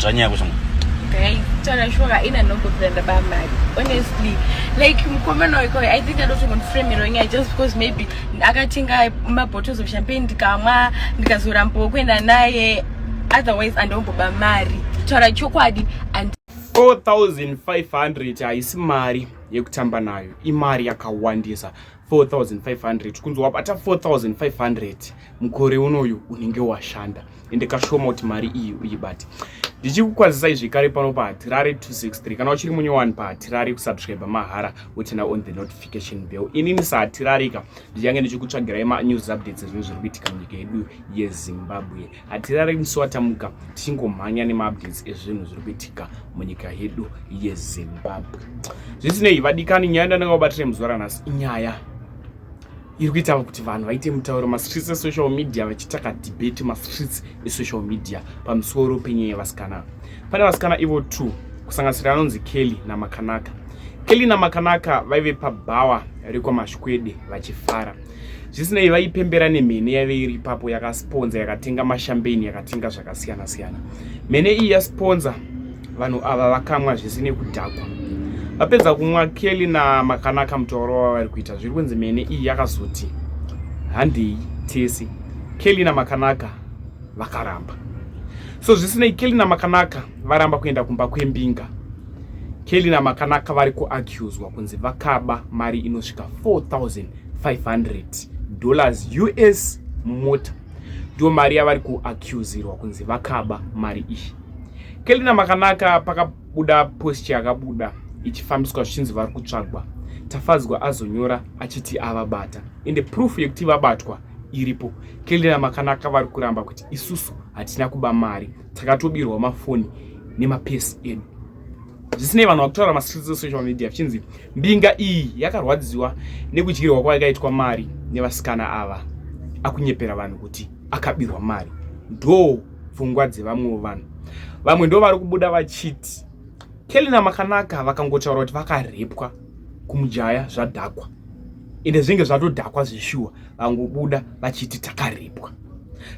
Zvanyaya kushama. Okay. Tana shora ina nongo kuenda ba mari. Honestly, like mkomana wako I think I don't even frame it wrong just because maybe akatenga ma bottles of champagne ndikamwa ndikazora mpo kwenda naye otherwise andomboba mari. Tara chokwadi and 4500 haisi mari yekutamba nayo imari yakawandisa 4500 tikunzi wabata 4500 mukore unoyu unenge washanda ende kashoma kuti mari iyi uyibate ndichikukwazisai zvekare pano pahatirari 263 kana uchiri munyowani pahatirari kusubscribe mahara wotena on the notification bell inini sahatirarika ndichange ndichikutsvagirai manews updates zvinhu zviri kuitika munyika yedu yezimbabwe hatirare musi watamuka tichingomhanya nemaupdates ezvinhu zviri kuitika munyika yedu yezimbabwe zvisinei vadikani nyaya yandandanga kubatira muzuva ranhasi inyaya iri kuita kuti vanhu vaite mutauro mastreets esocial media vachiita kadebate mastreets esocial media pamusoro penyaya yevasikana pane vasikana ivo two kusanganisira anonzi kelly namakanaka kelly namakanaka vaive pabhawa rekwamashikwede vachifara zvisinei vaipembera nemhene yaive iri ipapo yakasponza yakatenga mashambeni yakatenga zvakasiyana siyana mhene iyi yasponza vanhu ava vakamwa zvese nekudhakwa vapedza kumwa kelly namakanaka mutauro wava vari kuita zviri kunzi mhene iyi yakazoti handei tese kelly namakanaka vakaramba so zvisinei kelly namakanaka varamba kuenda kumba kwembinga kelly namakanaka vari kuaccuswa kunzi vakaba mari inosvika 4000 500 dollars us mumota ndiyo mari yavari kuaccusirwa kunzi vakaba mari iyi kelina makanaka pakabuda post yakabuda ichifambiswa zvichinzi vari kutsvagwa tafadzwa azonyora achiti avabata ende proof yekuti vabatwa iripo kelina makanaka vari kuramba kuti isusu hatina kuba mari takatobirwa mafoni nemapesi edu zvisinei vanhu vakutaura mastreets esocial media vichinzi mbinga iyi yakarwadziwa nekudyirwa kwayakaitwa mari nevasikana ava akunyepera vanhu kuti akabirwa mari ndo pfungwa dzevamwewo vanhu vamwe ndo vari kubuda vachiti kelina makanaka vakangotaura kuti vakarepwa kumujaya zvadhakwa ende zvinenge zvatodhakwa zveshuwa vangobuda vachiti takarepwa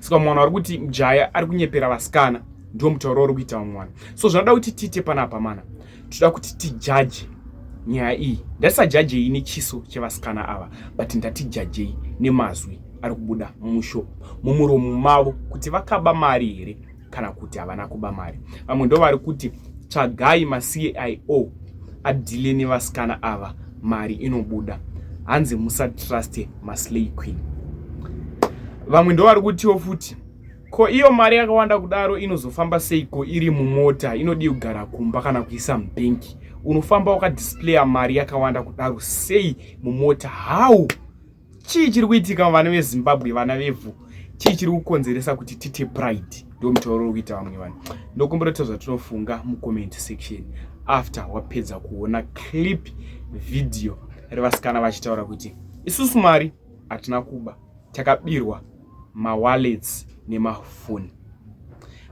saka mwana wari kuti mjaya ari kunyepera vasikana ndiwo mutauro uri kuita vamwe vanhu so zvanoda kuti tiite panapa mana toda kuti tijaje nyaya iyi ndatisajajei nechiso chevasikana ava but ndatijajei nemazwi ari kubuda mumusho mumuromo mavo kuti vakaba mari here kana kuti havana kuba mari vamwe ndo vari kuti tsvagai macio adhile nevasikana ava mari inobuda hanzi musatruste maslay queen vamwe ndo vari kutiwo futi Ko iyo mari yakawanda kudaro inozofamba seiko iri mumota inodii kugara kumba kana kuisa mubhenki? Unofamba wakadisplaya mari yakawanda kudaro sei mumota? How? Chii chiri kuitika vana veZimbabwe, vana vevhu? Chii chiri kukonzeresa kuti tite pride? Ndo mutauro uri kuita vamwe vanhu. Ndokumbira kuti zvatinofunga mucomment section after wapedza kuona clip video revasikana vachitaura kuti isusu mari hatina kuba. takabirwa mawallets nemafoni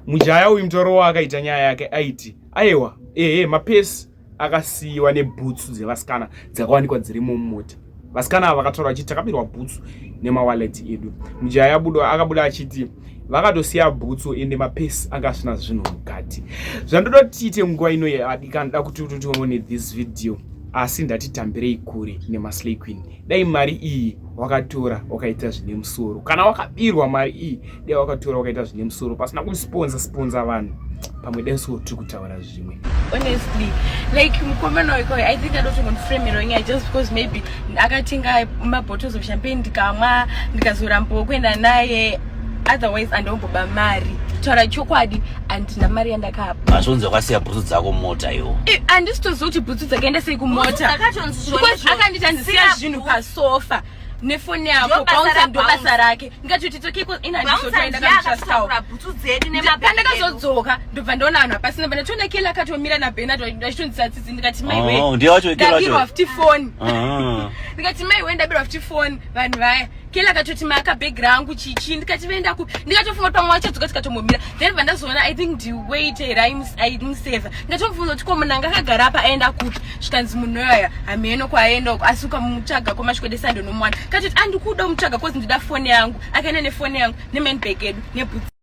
mujaya uyu mutoro waakaita nyaya yake aiti aiwa ehe mapesi akasiyiwa nebhutsu dzevasikana dzakawanikwa dzirimo mumota vasikana ava vakataura vachiti takabirwa bhutsu nemawallet edu mujaya akabuda achiti vakatosiya bhutsu ende mapesi anga asina zvinhu mukati zvandoda kuti tiite nguva ino yadikanoda kuti utotione this video asi ndatitambirei kure nemaslay queen dai mari iyi wakatora wakaita zvine musoro kana wakabirwa mari iyi dai wakatora wakaita zvine musoro pasina kusponza sponza vanhu pamwe dai soo tiri kutaura zvi zvimwe honestly like mukomana wekoi i think adotongonframiro nyaya just because maybe akatenga mabottles of champagne ndikamwa ndikazorambawo kuenda naye otherwise andomboba mari taura chokwadi andina mari yandakapa azvonzi wakasiya bhutsu dzako mumota iwo andisitoziva kuti bhutsu dzakaenda sei kumota akanditi andisiya zvinhu pasofa nefoni yako bouncer ndo basa rake ndikatoti toke ko ina ndishotoendakaaura bhutsu dzedu nemapandakazodzoka ndobva ndaona vanhu hapasina bana tona kela akatomira nabenard ndachitondisa tsitsi ndikati mai we oh, ndabirwa futi foni ah. ndikati mai we ndabirwa futi foni vanhu vaya kela akatoti maka bag rangu chichi ndikati vaenda kupi ndikatofunga pamwe wachadzoka tikatombomira then vandazoona i think ndiwait raimuseva ndikatomufunga kuti ko munhu anga akagara apa aenda kupi zvikanzi munhu yoyaya hameno kwaaenda uko asi ukamutsvaga kwamasvikwede sande unomuwana katoti andikuda umutsvaga kozi ndida foni yangu akaenda nefoni yangu nemanbag edu nebhutsi